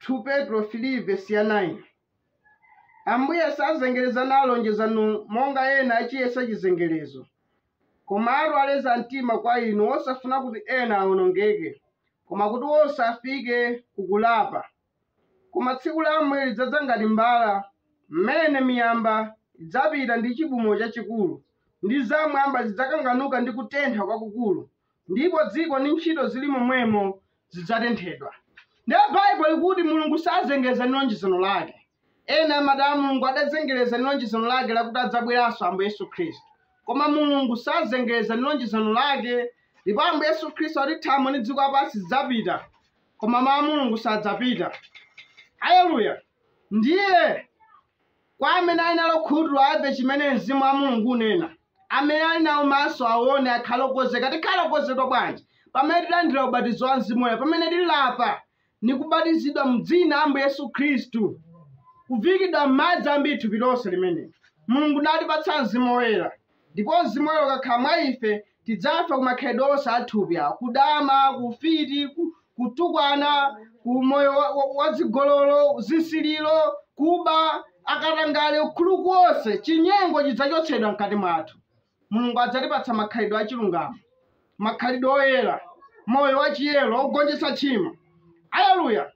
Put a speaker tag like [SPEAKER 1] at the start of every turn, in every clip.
[SPEAKER 1] 2 Petro 3 vesi ya 9 Ambuye sazengereza nalo lonjezano lake monga ena achiyesa chizengerezo, koma aleza mtima kwa inu osafuna kuti ena awonongeke, koma kuti onse afike kukulapa. Koma tsiku la Ambuye lidzadza ngati mbala, mmene miyamba idzapita ndi chibumo chachikulu, ndi zamwamba zidzakanganuka ndi kutentha kwakukulu. ndipo dziko ndi ntchito zili momwemo zidzatenthedwa. Ndiye Bible ikuti Mulungu sazengereza ndi lonjezano lake. Ena amati ah Mulungu adazengereza ndi lonjezano lake lakuti adzabweranso Ambuye Yesu Khristu. Koma Mulungu sazengereza ndi lonjezano lake ndipo Ambuye Yesu Khristu akuti thambo ndi dziko lapansi zidzapita koma mawu a Mulungu sadzapita. Haleluya. Ndiye kwa amene ali nalo khutu amve chimene mzimu wa Mulungu unena. amene ali nawo maso aone, akhale okonzeka. Tikhale okonzedwa bwanji? Pamene tilandira ubatizo wa Mzimu Woyera, pamene tilapa ndi kubatizidwa mu dzina la Ambuye Yesu Khristu, kuviikidwa m'madzi ambiri thupi lonse limeneli Mulungu natipatsa Mzimu Woyera. Ndipo Mzimu Woyera ukakhala mwa ife, tidzafa ku makhalidwe onse a thupi awa, kudama, ufiti, ku- kutukwana umoyo wa- wa- wa zigololo zisiliro kuba katangale ukuluku onse chinyengo chidzachotsedwa mkati mwathu mulungu adzatipatsa makhalidwe achilungamo makhalidwe oyera moyo wachiyero wakugonjetsa tchimo aleluya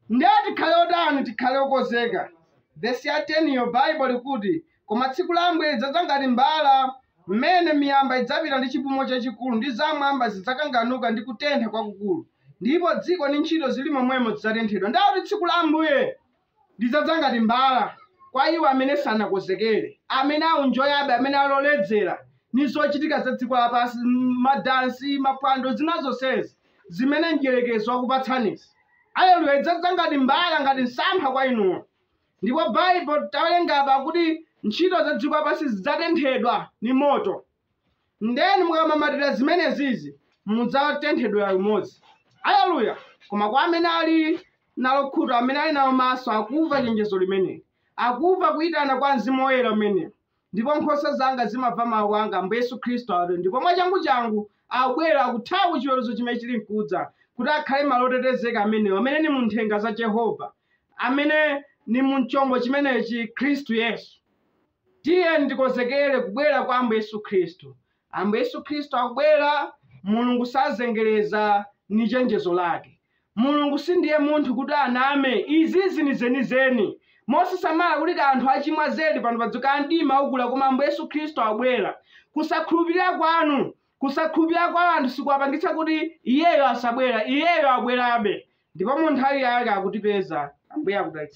[SPEAKER 1] ndiye tikhale otani tikhale okonzeka vesi ya 10 yo baibo ikuti Koma tsiku la Ambuye lidzadza ngati mbala, m'mene miyamba idzapita ndi chibumo chachikulu, ndi zamwamba zidzakanganuka ndi kutentha kwakukulu, ndipo dziko ndi ntchito zili momwemo zidzatenthedwa. Ndiye kuti tsiku la Ambuye lidzadza ngati mbala kwa iwo amene sanakonzekere, amene akunjoyabe, amene aloledzera ni zochitika za dziko lapansi, m- madansi, mapwando, zina zonsezi zimene mdyerekezi wakupatsanizo. Aleluya, lidzadza ngati mbala, ngati msampha kwa inuyo. Ndipo Baibo tawelenga apa kuti nchito za dziko lapansi zidzatenthedwa ni moto. Ndiye inu mukamamatila zimenezizi mudzatenthedwela limodzi. Aleluya! Koma kwa amene ali nalo khutu, amene ali nawo maso, akumva cenjezo limeneli, akumva kuitana kwa mzimu woyela umeneyu. ndipo nkhosa zanga zimamva mawu anga ambuye yesu khristu atero ndipo mwachanguchangu akubwera akuthawa ku chiweruzo chimene chili nkudza kuti akhale malo otetezeka amenewo amene ni munthenga za jehova amene ni mumchombo chimenechi khristu yesu tiyeni tikonzekere kubwera kwa ambuye yesu khristu Ambuye Yesu Khristu akubwera. Mulungu sazengereza ni chenjezo lake. Mulungu sindiye munthu kuti aname. Izizi ni zenizeni. Mosasamala kuti kaya anthu achimwa zedi pano pa dziko, kaya mdima ukula, koma Ambuye Yesu Khristu abwera. Kusakhulupirira kwanu, kusakhulupirira kwa anthu sikuwapangitsa kuti Iyeyo asabwera. Iyeyo abwerabe. Ndipo mu nthawi yake akutipeza. Ambuye akudalitseni.